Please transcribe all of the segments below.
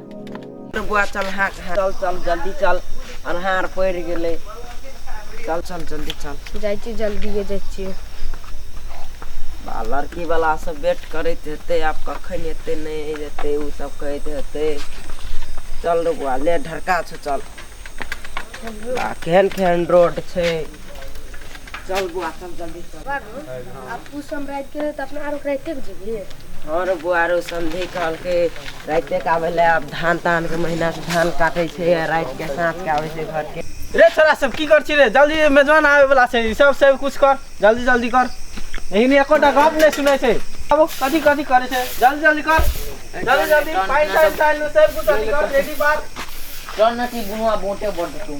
बुआ चल हाँ चल चल जल्दी चल अन्हार पड़ गए चल चल जल्दी चल जाइ छी जल्दिए जाइ छियै आ लड़की वाला सब वेट करैत हेतै आब कखन एतै नहि एतै ओ सब कहैत हेतै चल रे बुआ ले ढरका छौ चल आ केहन केहन रोड छै चल बुआ चल जल्दी चल तू समराइत के त अपना आरो राइते के जीबी हाँ रे बुआ रे समझी कहलके राइते के आवे ले अब धान तान के महीना से धान काटे छे आ रात के साँझ के आवे छे घर के रे छोरा सब की कर छी रे जल्दी मेजबान आवे वाला छै ई सब सब कुछ कर जल्दी जल्दी कर यही ने एकोटा गप नहीं सुनै छै अब कथी कथी करे छै जल्दी जल्दी कर जल्दी जल्दी पाइन ताइन ताइन सब कुछ जल्दी कर रेडी बात चल न ती बुआ बोटे बोटे तू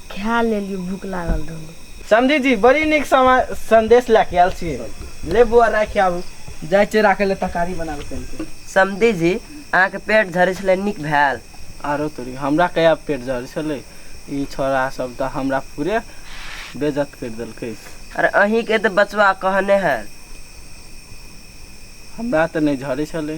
खा लेलियो भूख लागल रहलो समझी जी बड़ी निक संदेश लए के आयल छी ले बुआ राखि आबू जाइ छै राखे ले तरकारी बनाबे चल के समझी जी अहाँ के पेट झरे छले निक भेल आरो तोरी हमरा कया पेट झरे छले ई छोरा सब त हमरा पूरे बेजत कर देलकै अरे अही के त बचवा कहने है हमरा त नहीं झरे छले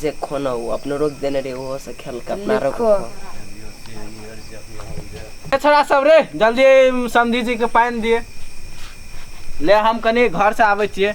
जे खोना ओ अपनो रोक देने रे ओहो से खेल के अपना रोक छोड़ा सब रे जल्दी समझी जी के पानी दिए ले हम कनी घर से आवे छिए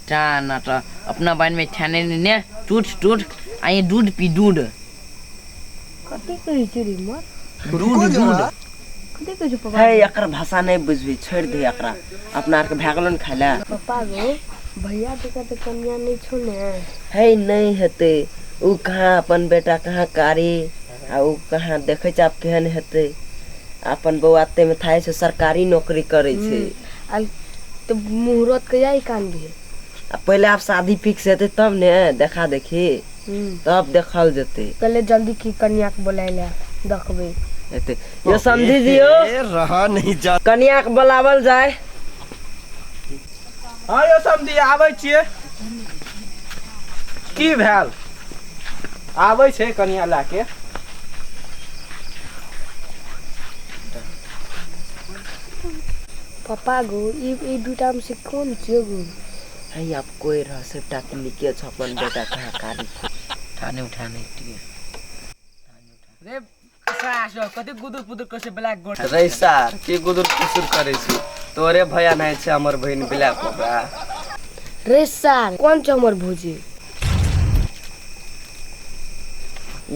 चाह ना त अपना बारे में छाने नहीं ने टूट टूट आइए दूध पी दूध कथी कहै छै रे माँ दूध दूध कथी कहै छै पापा है एकर भाषा नहीं बुझबी छोड़ दे एकरा अपना आर के भए गेलो ने खाय ले पापा गो भैया जी का तो कन्या नहीं छो ने है नहीं हेते उ कहाँ अपन बेटा कहाँ कारी आ ओ कहाँ देखै छै आब केहन हेतै अपन बौआ ताहिमे थाहे छै सरकारी नौकरी करै छै हूँ आ तऽ मुहूर्त कहिया ई कान भी है आ पहिले आब शादी फिक्स हेतै तब ने देखा देखी हूँ तब देखल जेतै पहिले जल्दी की कनिया के बोलाय ले देखबै हेतै यो समझी दियौ रहा नहीं जा कनिया के बोलावल जाय हँ यौ समधी आबै छियै की भेल आबै छै कनिया लए के पप्पा गो ई ई दूटा में से कौन छियो गो है अब कोई रह से टेक्निके छ अपन बेटा कहाँ कारी थाने उठाने रे कते गुदुर पुदुर करे छै ब्लैक गोल्ड रे सार के गुदुर पुदुर करे छै तोरे भया नहीं छै हमर बहन ब्लैक कोबरा रे सार कौन छै हमर भौजी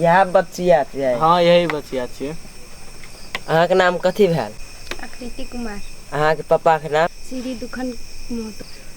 यह बचिया छै हाँ यही बचिया छै अहाँ के नाम कथी भेल आकृति कुमार अहाँ के पापा के नाम श्री दुखन महतो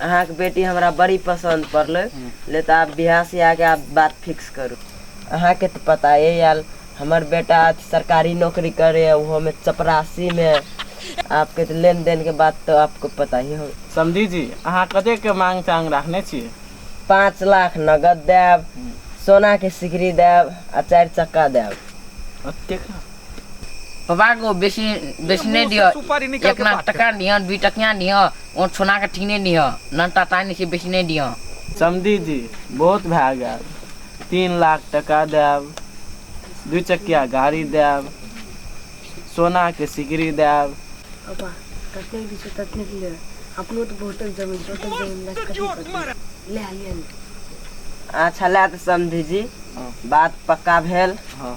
अहाँक बेटी हमरा बड़ी पसन्द पड़लै ले तऽ आब बियाह सियाहके आब बात फिक्स करू अहाँके तऽ पताए आयल हमर बेटा आज सरकारी नौकरी करैए ओहोमे चपरासीमे आपके तऽ लेन देनके बात तऽ आपको पता ही हो समधी जी अहाँ कतेकके मांग चांग राखने छियै पाँच लाख नगद देब सोनाके सिकरी देब आ चारि चक्का देब ओतेक बाबा को बेसी बेसी नहीं दियो सुपारी निकल एक लाख टका दियो दू टकिया दियो और सोना के ठीने दियो नन टाटा नहीं बेसी नहीं दियो समझी जी बहुत भए गेल तीन लाख टका देब दू चकिया गाड़ी देब सोना के सिकरी देब बाबा ततने भी छै ततने भी ले अपनो तो बहुत जमीन छै ओतक जमीन लग कर ले आलियन अच्छा ला तो समझी जी हाँ। बात पक्का भेल हाँ।